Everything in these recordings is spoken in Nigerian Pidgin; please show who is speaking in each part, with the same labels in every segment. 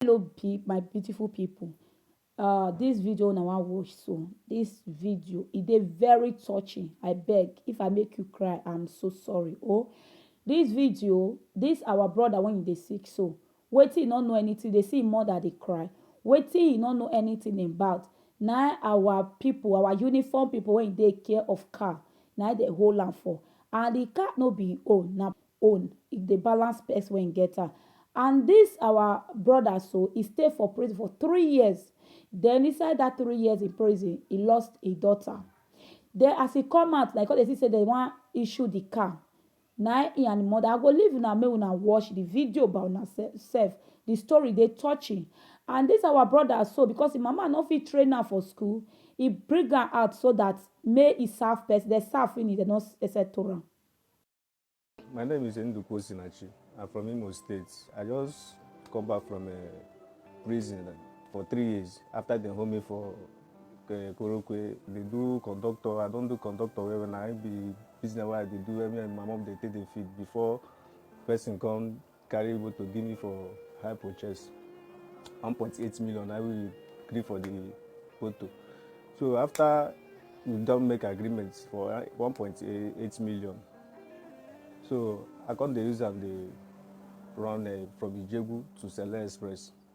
Speaker 1: hello be my beautiful people uh this video una wan watch so this video e dey very touching i beg if i make you cry i'm so sorry oh this video this our brother when you dey sick so wetin he no know anything dey see him mother dey cry wetin he no know anything about na our people our uniform people wey dey care of car na they hold am for and the car no be him own na own e dey balance pes wen get am and dis our broda so e stay for prison for three years den inside dat three years in prison e lost e dota den as e come out na e come dey see sey dem wan issue di car na e and e moda I go leave una make una watch di video by una sef di story dey touching and dis our broda so because e mama no fit train am for school e bring am out so dat make e serve pes den serve finish dem no settle am. My name is Enduku Osinachi. I'm from Imo State. I just come back from uh, prison for three years after they hold me for uh, Korokwe. They do conductor. I don't do conductor well when I be business where they do every my mom they take the feed before person come carry motor give me for high purchase one point eight million na we gree for the motor so after we don make agreement for uh, one point eight million so i come dey use am dey run uh, from ijebu to sele express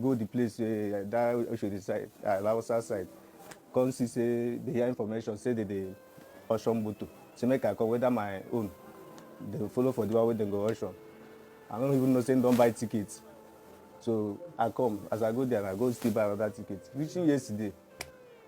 Speaker 1: go the place wey that Oshodi side, uh, Hausa side, come see say they hear information say they dey auction motor. Say make I come whether my own dey follow for the one wey dem go auction. I no even know say dem don buy ticket. So I come as I go there, I go still buy another ticket. Reaching yesterday,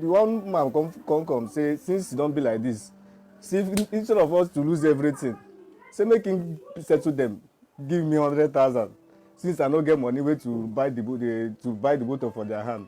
Speaker 1: the one man come come come say since e don be like this see instead of us to lose everything say make him settle them give me hundred thousand since i no get money wey to buy the boat eh, to buy the motor for their hand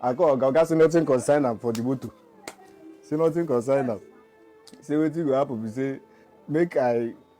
Speaker 1: i call oga oga say nothing concern am for the motor say nothing concern am say wetin go happen be say make i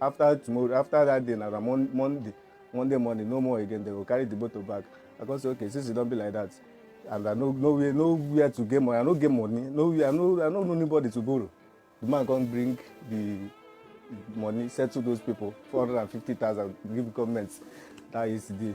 Speaker 1: after tomorrow after that day na mon monday monday morning no more again they go carry the motor back i come say okay since e don be like that and i no no where no where to get money i no get money no where i no i no know anybody to borrow the man come bring the money settle those people four hundred and fifty thousand give government that yesterday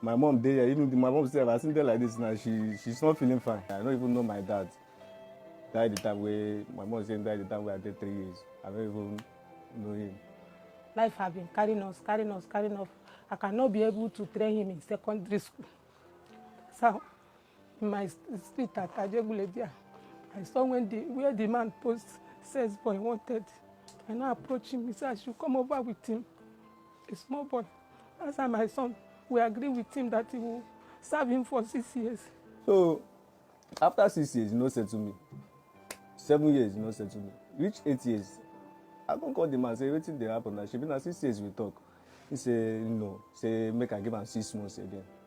Speaker 1: My mom dey here, even my mom sef, as im dey like this now, she she's not feeling fine. I no even know my dad. Die the time wey my mom say im die the time wey I dey three years. I no even know him. Life have been carrying us, carrying us, carrying us. I cannot be able to train him in secondary school. So my sweetheart Ajegunledia, I saw when the where the man posts says boy wanted. I now approach him. He said I should come over with him. A small boy. That's how my son. We agree with him that he will serve him for six years. So after six years, you no settle me. Seven years, you no settle me. Reach eight years. I come call the man say wetin dey happen na shebi na six years we talk. He say no. Say make I give am six months again.